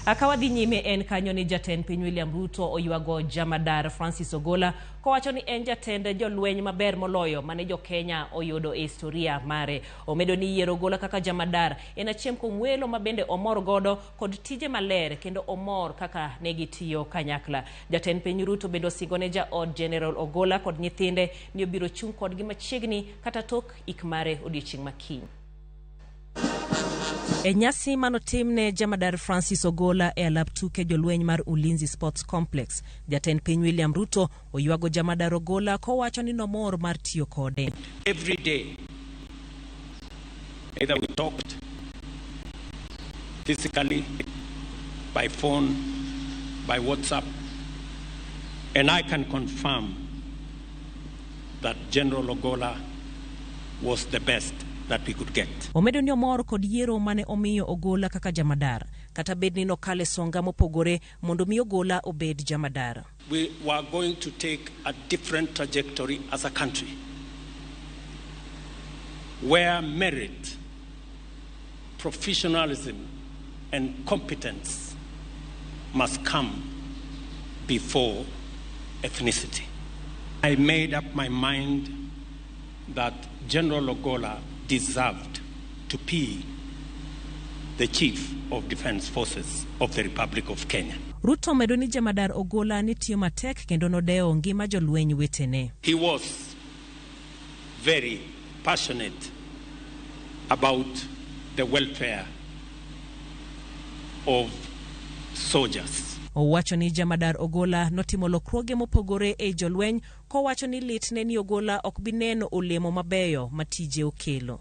Ka wadhi nyime en kanyo ni jatend piny William Ruto oywago jamadar Francis Ogola kowacho ni en jatend jolweny maber moloyo mane jo Kenya oyudo e historia mare. Omedo ni yiero Ogola kaka jamadar en achiel kuom welo ma bende omor godo kod tije maler kendo omor kaka ne gitiyo kanyakla. Jatend piny Ruto bende osingo ne jaod General Ogola kod nyithinde ni obiro chung' kodgi machiegni kata tok ik mare odiechieng' ma kiny. E nyasi manotim ne jamadar Francis Ogola e alap tuke jolweny mar Ulinzi Sports Complex, jatend piny William Ruto oywago jamadar Ogola kowacho ni nomor mar tiyo kode. Every day, either we talked physically, by phone, by WhatsApp, and I can confirm that General Ogola was the best that we could get. Omedo ni omor kod yiero mane omiyo Ogola kaka jamadar kata bed ni nokale songa mopogore mondo mi Ogola obed jamadar. We were going to take a different trajectory as a country where merit Professionalism and competence must come before ethnicity. I made up my mind that General Logola deserved to be the Chief of Defence Forces of the Republic of Kenya. Ruto omedo ni Jemadar Ogola ne tiyo matek kendo nodewo ngima jolweny wetene. He was very passionate about the welfare of soldiers. Owacho ni Jamadar Ogola notimo lokruoge mopogore ei jolweny kowacho ni litne ni Ogola ok bi neno olemo mabeyo ma tije okelo.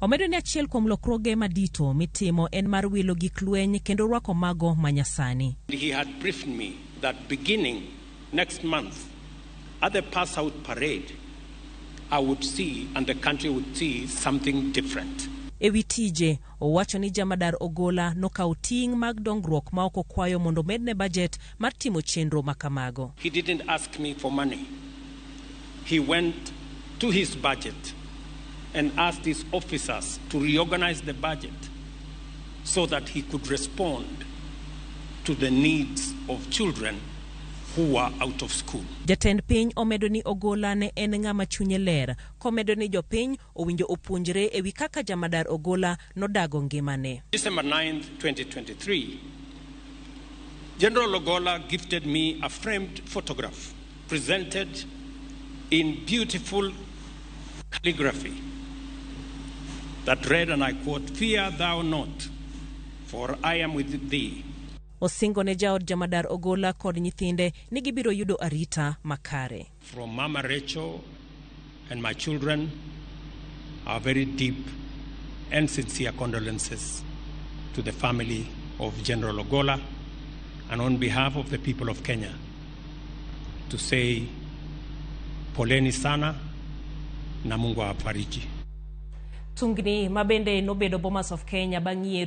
Omedo ni achiel kuom lokruoge madito mitimo en mar wilo gik lweny kendo rwako mago ma nyasani. He had briefed me that beginning next month at the pass out parade I would see and the country would see something different. E wi tije, owacho ni Jamadar Ogola nokawo ting' mag dongruok maok okwayo mondo omedne bajet mar timo chenro ma kamago. He didn't ask me for money. he went to his budget and asked his officers to reorganize the budget so that he could respond to the needs of children who were out of school. Jatend piny omedo ni Ogola ne en ng'ama chunye ler, komedo ni jopiny owinjo opuonjre ewi kaka jamadar Ogola nodago ngimane. December 9, 2023, General Ogola gifted me a framed photograph presented in beautiful calligraphy that read, and I quote, Fear thou not, for I am with thee. Osingo ne jaod jamadar Ogola kod nyithinde ni gibiro yudo arita makare. From Mama Rachel And my children, our very deep and sincere condolences to the family of General Ogola and on behalf of the people of Kenya to say poleni sana na Mungu awafariji. Tungni ma bende nobedo Bomas of Kenya bang' yiero